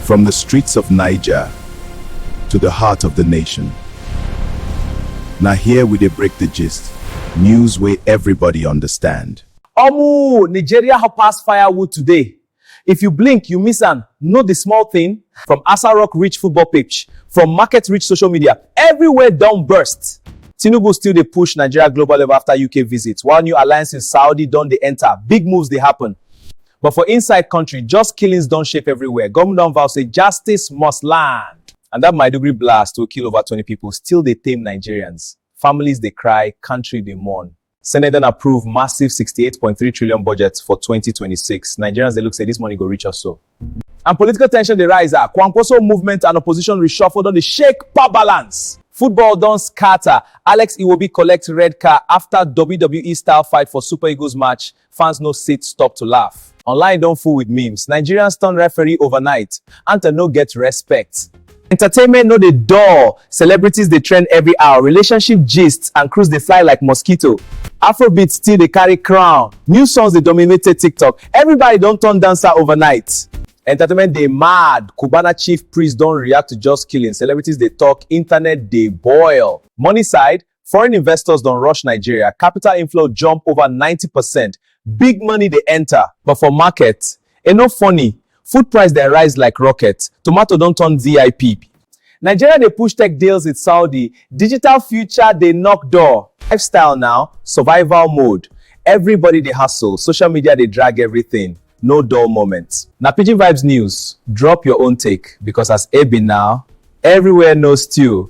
From the streets of Niger to the heart of the nation. Now here we dey break the gist, news wey everybody understand. Omo! Nigeria hot pass firewood today. If you blink, you miss am. No the small thing? From Asa Rock reach football pitch, from market reach social media, everywhere don burst. Tinubu still dey push Nigeria global level after UK visit, while new alliances Saudi don dey enter, big moves dey happen. But for inside country, just killings don shape everywhere. Government don vow say justice must land. And that Maiduguri blast wey kill over 20 people still dey tame Nigerians. Families dey cry, country dey mourn. Senate don approve massive 68.3 trillion budget for 2026. Nigerians dey look say this money go reach us so. And political tension dey rise ah. Kwankwaso movement and opposition reshuffle don dey shake power balance. Football don scatter. Alex Iwobi collect red card after WWE style fight for Super Eagles match. Fans no sit stop to laugh. Online don full with memes. Nigerians turn referee overnight. Anthem no get respect. Entertainment no dey dull, celebrities dey trend every hour, relationship gists and cruise dey fly like mosquito. Afrobeat still dey carry crown, new songs dey dominated TikTok, everybody don turn dancer overnight. Entertainment dey mad, Cubana chief priest don react to just killing, celebrities dey talk, internet dey boil. Money side, Foreign investors don rush Nigeria, capital inflow jump over ninety percent, big money dey enter. But for market, e no funny, food price dem rise like rocket, tomato don turn vip. Nigeria dey push tech deals with Saudi, digital future dey knock door. Lifestyle now, survival mode, everybody dey hustle, social media dey drag everything. no dull moment. Na Pidgin Vibes News, drop your own take because as e be now, everywhere no stew.